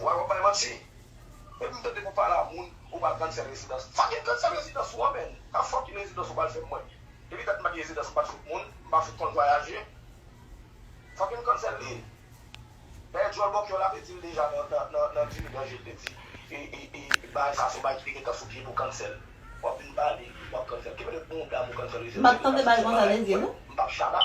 Why wap bay manti. Depi m tande pou pale a moun ou pral cancel rezidans. Sa ki cancel rezidans ou an menn? Ka fucking rezidans ou pral fè mwen? Depi dat m pa gen rezidans m pat fout moun, m pa fout konn vwayaje. Fucking cancel li. Dayè djòl bòkyò la te dil deja nan dimi danje l te di bagay sa son bagay ki te gentan sou pye pou cancel. Wap vin pale wap cancel. Ki mete mouda m ou cancel rezidans. M pat tande bagay konsa te di non. M pap shada.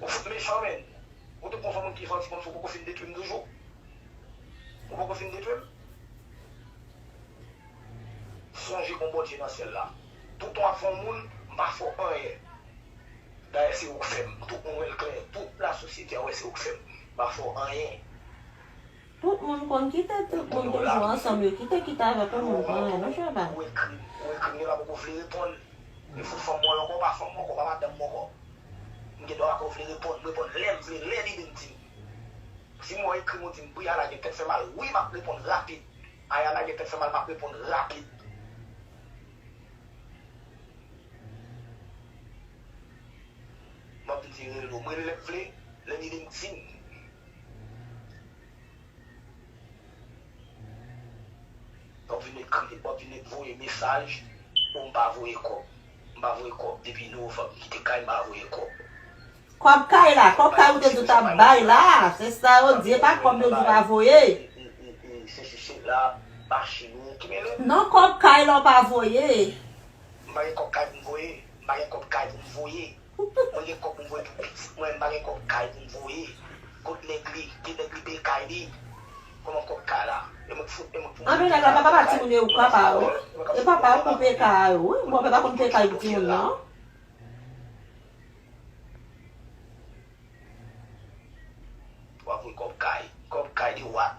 Ou fout mechan menn. Ou te konn son moun ki janti konsa ou poko fin detwim toujou? Ou poko fin detwim? Sonje gon Bondye nan syèl la. Tou tan wap fè yon moun, m pa fè w anyen. Dayè se ou k fè m, tout moun wè l klè, tout lasosyete a wè se ou k fè m. M pa fè w anyen. Tout moun konn kite tout moun toujou ansanm yo kite kite avèk yon moun pa anyen non cheval. Ou ekri ou ekri m gen dwa poko vle reponn li fout fanm mwen ankò pa fanm mwen ankò pa madanm mwen ankò m gen dwa pako vle reponn m reponn lèm vle lè lide m di m di m wè w ekri m ou di m wi Ana gen tèt fè mal wi map reponn rapid Ayana gen tèt fè mal map reponn rapid. Map vin di rele w m rele lè m vle lè lide m di m. Wap vin met kriye, wap vin met voye mesaj oh m pa voye kob, m pa voye kob depi novanb m kite kay m pa voye kob. Kob kay la, kob kay ou te di w tap bay la, se sa yo di, e pa kob yo di w pa voye. Sesi sela, machin ou, ki mele m? Non kob kay la w pa voye. M pa gen kob kay pou m voye, m pa gen kob kay pou m voye. Mwen gen kòb pou m voye pou pitit mwen m pa gen kòb kay pou m voye kot nèg li gen nèg li peye kay li kòman kòb kay la e mwen k fout e mwen k pou mwen peye kay mwen peye kay mwen ka fout vòlò mwen ka fout vòlò mwen ka fout mwen ka fout kite do kyèl la. Wap voye kòb kay kòb kay de what.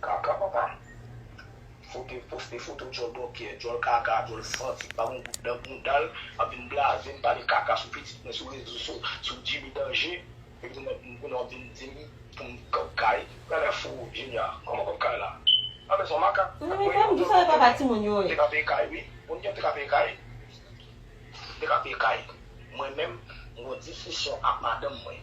Kaka papa. Fo dev poste foto djòl bòkyè, djòl kaka, djòl santi ki pa gon gout nan boundal ap vin blaze m pale kaka sou pitit mwen sou rezo so sou Jimmy Danje epi tou mèt kounye wap vin dim pou m kòb kay. Gade fo Junior kòman kòb kay la a men son makak Ou menm pam ki sòlè papa timoun yo e. Te ka peye kay wi moun gen te ka peye kay te ka peye kay mwen menm m gon disisyon ak madanm mwen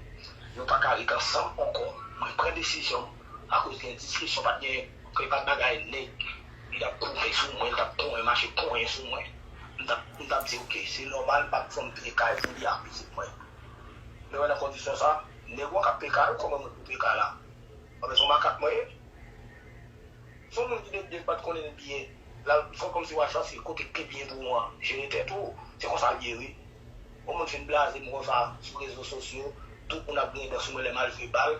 nou paka ret ansanm ankò mwen pran desizyon m. akoz gen diskisyon pat gen kè pat bagay nèg li tap kouve sou mwen li tap konyen mache konyen sou mwen m tap di ok se nòmal pat fòm peye kay pou li ak pitit mwen lè mwen nan kondisyon sa nèg wan kap peye kay ou koman mwen pou peye kay la anben son makak mwen ye son moun ki depi pat konnen l byen lal fè kòmsi wal chache kote ki pi byen pou ou an jere tèt ou se konsa l ye wi on moun fin blaze m wè sa sou rezo sosyo tout moun ap griyen dan sou mwen lè mal jwe bal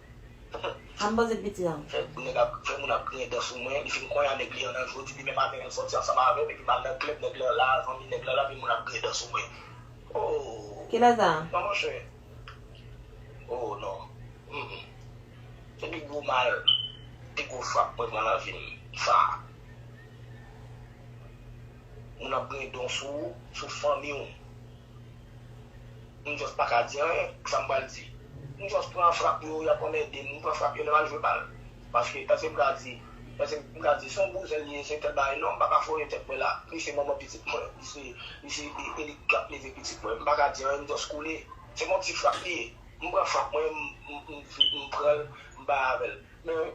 An bon zin piti an. Fè moun ap griyen dan sou mwen, li fin konn a nèg li an nan jodi, li menm avèl al sòti ansanm avèm epi mal nan klèb nèg lan la, zanmi nèg lan la epi moun ap griyen dan sou mwen ooh. Kilè sa? Non monchè ooh non humm se pi gwo mal, pi gwo frap mwen pran nan vim sa. Moun ap griyen dan sou ou, sou fanmiw. M just paka di anyen, kisa m pral di? M just pran frap yo, y ap anmède m, m pran frap yo lè m al jwe bal. Paske, èske m ka di, èske m ka di se yon bouzen li ye, se tèl bagay, non m paka foye tèt mwen la. Li se manman pitit mwen, li se, li se e li k ap leve pitit mwen. M paka di anyen, m just koule. Se yon ti frap li ye. M pran frap mwen, m, m, m vit, m pran l, m bay avè l. Men,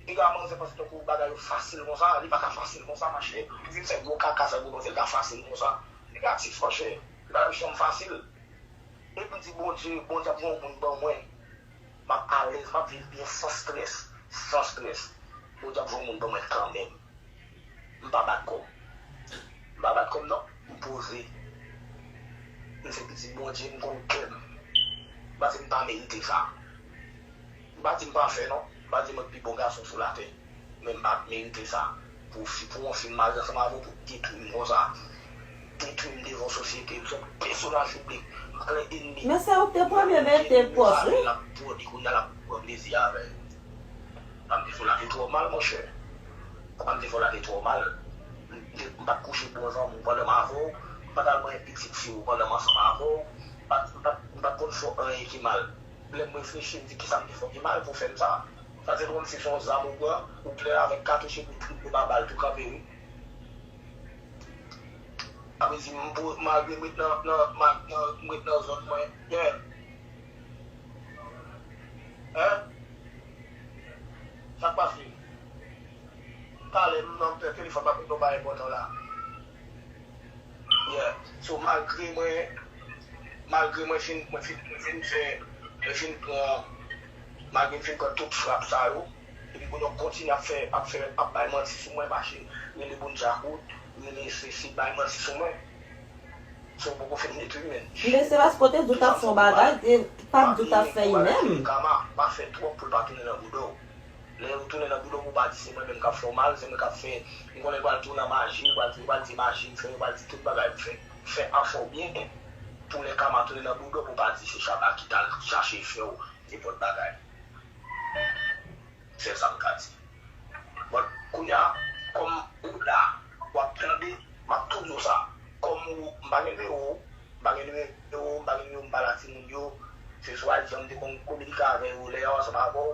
piga manzè panse tankou bagay yo fasil konsa, li paka fasil konsa, mache. Li vin fè gwo kaka, fè gwo manzè, li pa fasil konsa. Negatif monchè, lari fèm fasil. Depim di Bondye, Bondye ap gen yon moun ban mwen, map alèz, map viv byen san strès, san strès. Bondye ap gen yon moun ban mwen kanmenm. M pa bat kòm. M pa bat kòm non. M poze. M se pitit Bondye, m konn kèm. Paske m pa merite sa. M pa di m pafè non, m pa di mwen pi bon gason sou latè, men m pa merite sa. Pou fi, pou yon fi m marye ansanm avè w pou detwi m konsa, detwi m devan sosyete, m se yon pèsonaj piblik, m pa gen enmi. Men se ou k te premye mete pòs wi. Lap bwode kounya lap pran plezi avè yo. Sa m te fè w la te twò mal monchè. Sa m te fè w la te twò mal. M te, m pat kouche bon zanmi w pandan m avè w, m pat al manyen pitit fi w pandan m ansanm avè w, m pat, m pat, m pat konn fè w anyen ki mal. Lè m reflechi, m di kisa m te fè ki mal pou fè m sa. Sa se kòmsi se yon zam ou pran, ou plen avèk katouch epi trip yo ba bal tou kanpe wi. Amezi m po, malgre m ret nan, nan, nan, m ret nan zòn mwen, gen. Hein? Sa k pase? Talè m nan m pè telefòn m ap reponn yon bagay enpòtan la. Yeah so malgre mwen malgre mwen fin mwen fin mwen fin fè mwen fin pran malgre m fin pran tout frap sa yo epi kounye a w kontinye ap fè ap fè ap bay manti sou mwen mache rele moun djakout rele sesi bay manti sou mwen so w poko fin detwi m menn Men se paske w te di w t ap fè yon bagay e pa di w t ap fè li menm. Pa bliye kou a rele kama pa fè twòp pou l pa tounen nan bouda w. Lè yo tounen nan boudow pou pa di se mwen menm kap fèw mal se mwen kap fè m konnen yo pral tou nan maji yo pral di maji m fè yo pral di tout bagay m fè fè an fèw byen pou lè kama tounen nan boudow pou pa di se chaba ki tal chache fèw nenpòt bagay sèl sam ka di but kounya kòm ou la wap tande map tou diw sa kòm ou m pa gen nimewo w m pa gen nimewo w m pa gen nimewo m pa la timoun yo se sou ayiti an m te konn kominike avè yo lè yaw a sa pa bòw.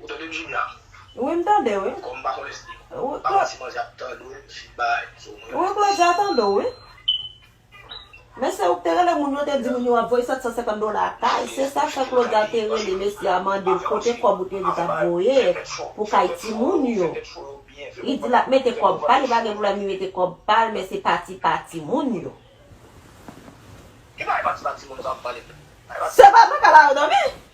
Ou tande m Junia? Wi m tande w wi. Kòm m pa konnen si m pa manti manzè ap tande w si m bay info mwen. Wi Claudia tande w wi. Men se ou k te rele moun yo te di moun yo ap voye 750 dola kay se sa k fè Claudia te rele mesye a mande l kote kòb ou te di w t ap voye pou kay timoun yo. Li di l ap mete kòb pa l li pa gen pwoblèm li mete kòb pa l men se pati pa timoun yo. Ki bagay pati pa timoun yo sa w ap pale m la? Se pa mwen k al arodòmi?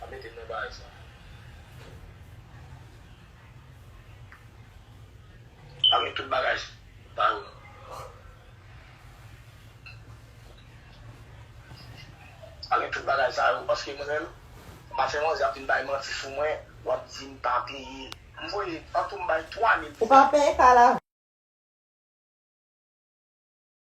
Map mete non paj la. Map met tout bagay sa yo non. Map met tout bagay sa yo paske mwen menm map fè manzè ap vin bay manti sou mwen wap di m pa peye. M voye an tou m bay 3000 pou sa. Ou pa peye kay la vre.